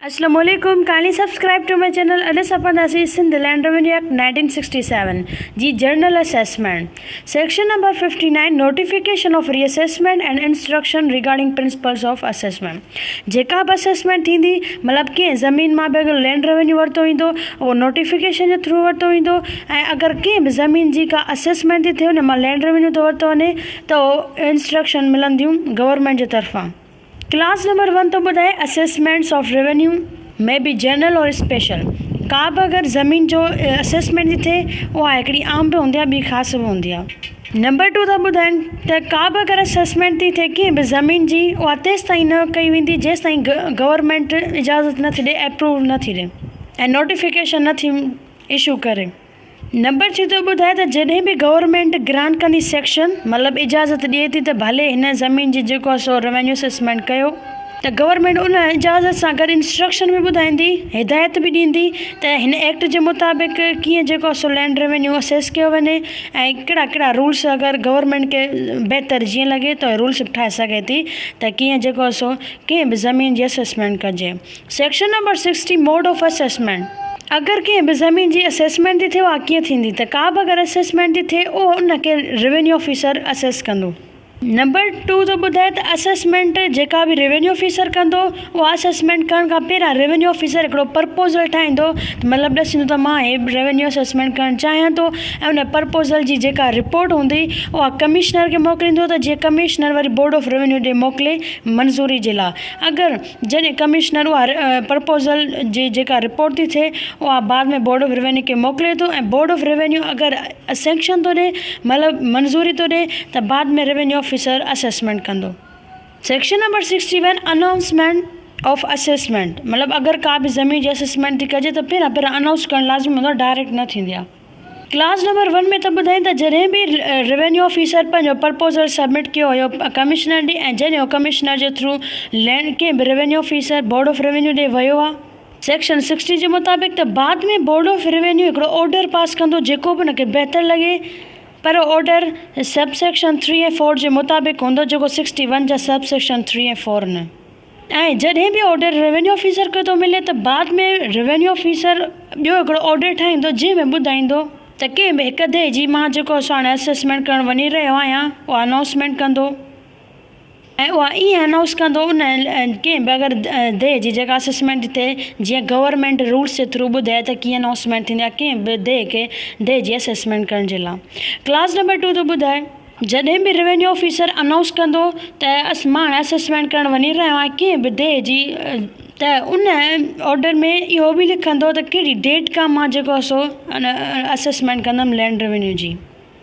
اسلام عليڪم kindly subscribe to my channel اڄ اسان پڙهنداسين Sindh land revenue act nineteen sixty seven جي general assessment section number fifty nine notification of reassessment and instruction regarding principles of assessment جيڪا به assessment ٿيندي مطلب ڪنهن زمين مان به اگر لينڊ روينيو ورتو ويندو اهو نوٽيفڪيشن جي ٿرو ورتو ويندو ۽ اگر ڪنهن به زمين جي ڪا اسيسمينٽ ٿي ٿئي ان مان لينڊ روينيو ٿو ورتو وڃي ته انسٽرڪشن ملنديون گورنمينٽ جي طرفان ڪلاس نمبر ون ٿو ٻڌائي assessments of revenue may be general اور اسپيشل ڪا به اگر زمين جو اسيسمينٽ جي ٿئي اها هڪڙي عام به هوندي آهي ٻي خاص به هوندي آهي نمبر ٽو ٿا ٻڌائين ته ڪا به اگر اسيسمينٽ ٿي ٿئي ڪنهن به زمين جي اها تيس تائين نه ڪئي ويندي جيس تائين گورمينٽ اجازت نه ٿي ڏي اپروو نه ٿي ڏي ۽ نوٽيفڪيشن نه ٿي اشو ڪري نمبر ڇهه ٿو ٻڌائي ته جڏهن به گورنمينٽ گرانٽ ڪندي سيڪشن مطلب اجازت ڏئي ٿي ته ڀلي هن زمين جي جيڪو آهي سو روينيو اسيسمينٽ ڪيو ته گورنمينٽ ان اجازت سان گڏ انسٽرڪشن به ٻڌائيندي هدايت به ڏيندي ته هن ايڪٽ جي مطابق ڪيئن جيڪو آهي سو لينڊ روينيو اسيس ڪيو وڃي ۽ ڪهڙا ڪهڙا رولس اگر گورنمينٽ کي بهتر جيئن لڳي ته رولس به ٺاهي سگهي ٿي ته ڪيئن جيڪو آهي سو ڪنهن به زمين جي اسيسمينٽ ڪجي. Section number sixty, mode of assessment, اگر ڪنهن به زمين جي اسيسمينٽ ٿي ٿئي اها ڪيئن ٿيندي ته ڪابه اگر اسيسمينٽ ٿي ٿئي اهو ان کي روينيو آفيسر اسيس ڪندو. نمبر ٽو ٿو ٻڌائي ته اسيسمينٽ جيڪا به روينيو آفيسر ڪندو اها اسيسمينٽ ڪرڻ کان پهريان روينيو آفيسر هڪڙو پرپوزل ٺاهيندو ته مطلب ڏسيندو ته مان هي روينيو اسيسمينٽ ڪرڻ چاهيان ٿو ۽ ان پرپوزل جي جيڪا رپورٽ هوندي اها ڪمشنر کي موڪليندو ته جيئن ڪمشنر وري بورڊ آف روينيو ڏي موڪلي منظوري جي لاء اگر جڏهن ڪمشنر اها پرپوزل جي جيڪا رپورٽ ٿي ٿئي اها بعد ۾ بورڊ آف روينيو کي موڪلي ٿو ۽ بورڊ آف روينيو اگر سينڪشن ٿو ڏئي مطلب منظوري ٿو ڏئي ته بعد ۾ روينيو آفيسر اسيسمينٽ ڪندو. Section number sixty one announcement of assessment مطلب اگر ڪا به زمين جي اسيسمينٽ ٿي ڪجي ته پهريان پهريان انائونس ڪرڻ لازمي هوندو آهي ڊائريڪٽ نه ٿيندي آهي. ڪلاس نمبر ون ۾ ته ٻڌائين ته جڏهن به روينيو آفيسر پنهنجو پرپوزل سبمٽ ڪيو هيو ڪمشنر ڏي ۽ جڏهن هو ڪمشنر جي ٿرو لينڊ ڪنهن به revenue officer board of revenue ڏي ويو ها. سيڪشن سڪسٽي جي مطابق ته بعد ۾ بورڊ آف روينيو هڪڙو آرڊر پاس ڪندو جيڪو به ان کي بهتر لڳي پر order sub section three ۽ four جي مطابق هوندو جيڪو سڪسٽي ون جا سب سيڪشن ٿري ۽ فور نه ۽ جڏهن به آرڊر روينيو آفيسر کي ٿو ملي ته بعد ۾ روينيو آفيسر ٻيو هڪڙو آرڊر ٺاهيندو جنهن ۾ ٻڌائيندو ته ڪنهن به هڪ ديهه جي مان جيڪو اسان هاڻي اسيسمينٽ ڪرڻ وڃي رهيو آهيان اها انائونسمينٽ ڪندو ۽ اها ائين انائونس ڪندو ان ڪنهن به اگر ديهه جي جيڪا اسيسمينٽ ٿئي جيئن گورنمينٽ رولس جي ٿرو ٻڌائي ته ڪيئن انائونسمينٽ ٿيندي آهي ڪنهن به ديهه کي ديهه جي اسيسمينٽ ڪرڻ جي لاء ڪلاز نمبر ٽو ٿو ٻڌائي جڏهن به روينيو آفيسر انائونس ڪندو ته مان اسيسمينٽ ڪرڻ وڃي رهيو آهيان ڪنهن به ڊي جي ته ان آرڊر ۾ اهو به لکندو ته ڪهڙي ڊيٽ کان مان جيڪو آهي سو ان اسيسمينٽ ڪندم لينڊ روينيو جي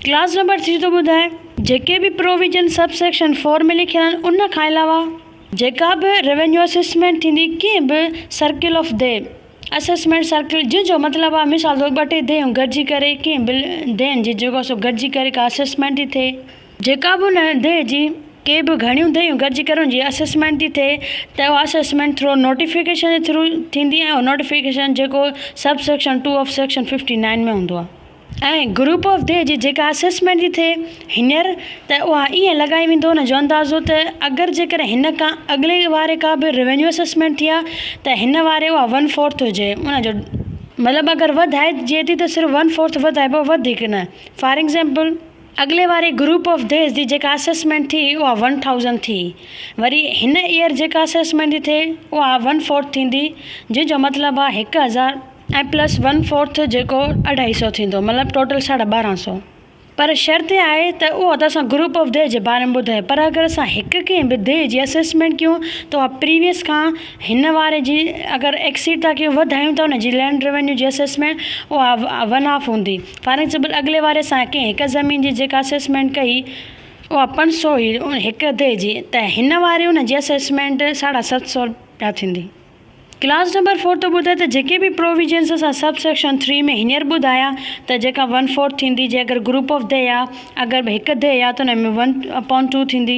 ڪلاز نمبر ٿري ٿو ٻڌائي. جيڪي به پروويزن سب سيڪشن فور ۾ لکيل آهن ان کان علاوه جيڪا به روينيو اسيسمينٽ ٿيندي ڪنهن به سرڪل آف دي. اسيسمينٽ سرڪل جنهن جو مطلب آهي مثال طور ٻه ٽي ديهيون گڏجي ڪري ڪنهن بل ديهين جي جيڪو سو گڏجي ڪري ڪا اسيسمينٽ ٿي ٿئي، جيڪا به ان ديهي جي ڪي به گهڻيون ديهيون گڏجي ڪري ان جي اسيسمينٽ ٿي ٿئي ته اها اسيسمينٽ ٿرو نوٽيفڪيشن جي ٿرو ٿيندي ۽ اهو نوٽيفڪيشن جيڪو sub section two of section fifty nine ۾ هوندو آهي. ۽ گروپ آف دي جي جيڪا اسيسمينٽ ٿي ٿئي هينئر ته اها ائين لڳائي ويندو ان جو اندازو ته اگر جيڪر هن کان اڳلي واري ڪا به روينيو اسيسمينٽ ٿي آ ته هن واري اها ون فورٿ هجي ان جو مطلب اگر وڌائي جي ٿي ته صرف ون فورٿ وڌائبو وڌيڪ نه فار ايگزيمپل. اڳلي واري گروپ آف ديز جي جيڪا اسيسمينٽ ٿي اها ون ٿائوزنٽ ٿي وري هن ايئر جيڪا اسيسمينٽ ٿي ٿئي اها ون فورٿ ٿيندي جنهن جو مطلب آ هڪ هزار. ۽ پلس ون فورٿ جيڪو اڍائي سئو ٿيندو مطلب ٽوٽل ساڍا ٻارهن سئو پر شرط اها آهي ته اها ته اسان گروپ آف دي جي باري ۾ ٻڌائي پر اگر اسان هڪ ڪنهن به دي جي اسيسمينٽ ڪيون ته اها پريويس کان هن واري جي اگر ايڪسيڊ ٿا ڪيون وڌايون ته ان جي لينڊ روينيو جي اسيسمينٽ اها ون آف هوندي فار ايگزامپل اڳلي واري اسان ڪنهن هڪ زمين جي جيڪا اسيسمينٽ ڪئي اها پنج سئو هئي هڪ دي جي ته هن واري ان جي اسيسمينٽ ساڍا ست سئو رپيا ٿيندي ڪلاس نمبر فور ٿو ٻڌائي ته جيڪي به پروويزنس اسان سب سيڪشن ٿري ۾ هينئر ٻڌايا ته جيڪا ون فورٿ ٿيندي جي اگر گروپ آف دي آ اگر به هڪ دي آ ته ان ۾ ون اپون ٽو ٿيندي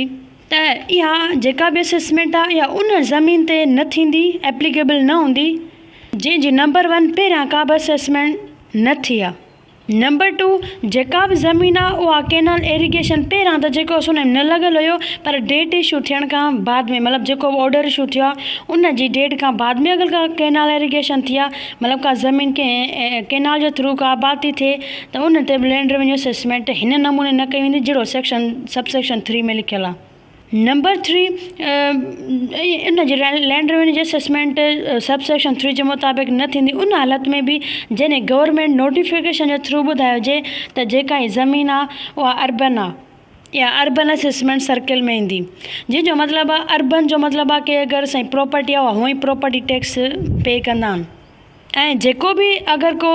ته اها جيڪا به اسسمينٽ آ اها ان زمين تي نه ٿيندي ايپليڪيبل نه هوندي جنهن جي نمبر ون پهريان ڪا به اسسمينٽ نه ٿي آ. نمبر ٽو جيڪا به زمين آ اها ڪينال ايريگيشن پهريان ته جيڪو اسو نيم نه لڳل هيو پر ڊيٽ ايشو ٿيڻ کان بعد ۾ مطلب جيڪو به آرڊر ايشو ٿيو آ ان جي ڊيٽ کان بعد ۾ اگر ڪا ڪينال ايريگيشن ٿي آ مطلب ڪا زمين ڪنهن ڪينال جي ٿرو ڪا آبادتي ٿئي ته ان تي به لينڊ ريونيو اسيسمينٽ هن نموني نه ڪئي ويندي جهڙو سيڪشن سب سيڪشن ٿري ۾ لکيل آ نمبر ٿري ان جي لاء لينڊ روينيو جي اسيسمينٽ سب سيڪشن ٿري جي مطابق نه ٿيندي ان حالت ۾ به جڏهن گورنمينٽ نوٽيفڪيشن جي ٿرو ٻڌائي هجي ته جيڪا هي زمين آهي اها اربن آهي يا اربن اسيسمينٽ سرڪل ۾ ايندي جنهن جو مطلب آهي اربن جو مطلب آهي ڪي اگر سائين پراپرٽي آهي اها هونئن پراپرٽي ٽيڪس پي ڪندا آهن ۽ جيڪو به اگر ڪو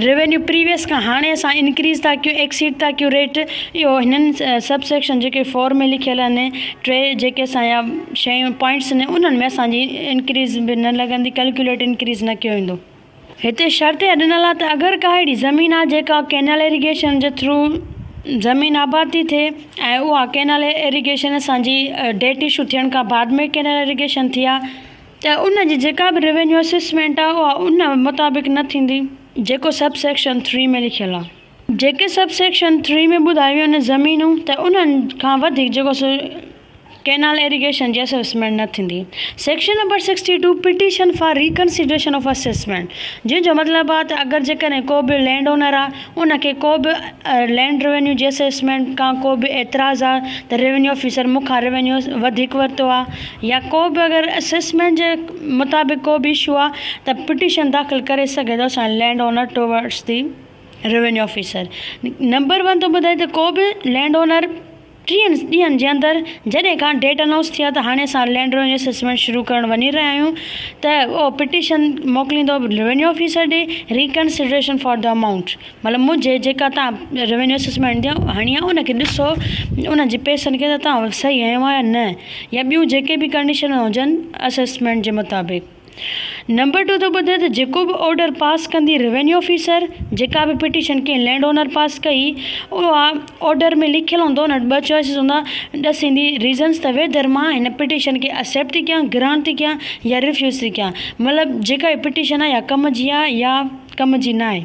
روينيو پريويس کان هاڻي اسان انڪريز ٿا ڪيون ايڪسيڊ ٿا ڪيون ريٽ اهو هنن سب سيڪشن جيڪي فور ۾ لکيل آهن ٽي جيڪي اسان جا شيون پوائنٽس آهن انهن ۾ اسان جي انڪريز به نه لڳندي ڪلڪيوليٽ انڪريز نه ڪيو ويندو هتي شرط اها ڏنل آهي ته اگر ڪا اهڙي زمين آهي جيڪا ڪينال ايريگيشن جي ٿرو زمين آباد ٿي ٿئي ۽ اها ڪينال ايريگيشن اسان جي ڊيٽ اشو ٿيڻ کان بعد ۾ ڪينال ايريگيشن ٿي آهي ته ان جي جيڪا به روينيو اسيسمينٽ آ اها ان مطابق نه ٿيندي جيڪو سب سيڪشن ٿري ۾ لکيل آ. جيڪي سب سيڪشن ٿري ۾ ٻڌايون ويون آهن زمينون ته انهن کان وڌيڪ جيڪو سو ڪينال ايريگيشن جي اسيسمينٽ نه ٿيندي. Section number sixty two petition for reconsideration of assessment جنهن جو مطلب آ ته اگر جيڪڏهن ڪو به لينڊ اونر آ ان کي ڪو به لينڊ روينيو جي اسيسمينٽ کان ڪو به اعتراض آ ته روينيو آفيسر مون کان روينيو وڌيڪ ورتو آ يا ڪو به اگر اسيسمينٽ جي مطابق ڪو به اشو آ ته پٽيشن داخل ڪري سگهي ٿو اسان land owner towards the revenue officer number one ٿو ٻڌائي ته ڪو به لينڊ اونر ٽيهن ڏينهن جي اندر جڏهن کان ڊيٽ انائونس ٿي آهي ته هاڻي اسان لينڊ ريونيو اسيسمينٽ شروع ڪرڻ وڃي رهيا آهيون ته اهو پٽيشن موڪليندو ريونيو آفيسر ڏي ريڪنسڊريشن فار دي امائونٽ مطلب منهنجي جيڪا تان ريونيو اسيسمينٽ جي هڻي آهي ان کي ڏسو ان جي پئسن کي ته تان صحيح هنيو آهي يا نه يا ٻيون جيڪي به ڪنڊيشنون هجن اسيسمينٽ جي مطابق نمبر ٽو ٿو ٻڌي ته جيڪو به آرڊر پاس ڪندي روينيو آفيسر جيڪا به پٽيشن ڪنهن لينڊ اونر پاس ڪئي اها آرڊر ۾ لکيل هوندو ان وٽ ٻه چوائسز هوندا ڏس ايندي ريزنس ته ويڌر مان هن پٽيشن کي اسيپٽ ٿي ڪيان گرانٽ ٿي ڪيان يا ريفيوز ٿي ڪيان مطلب جيڪا هي پٽيشن آهي يا ڪم جي آهي يا ڪم جي ناهي.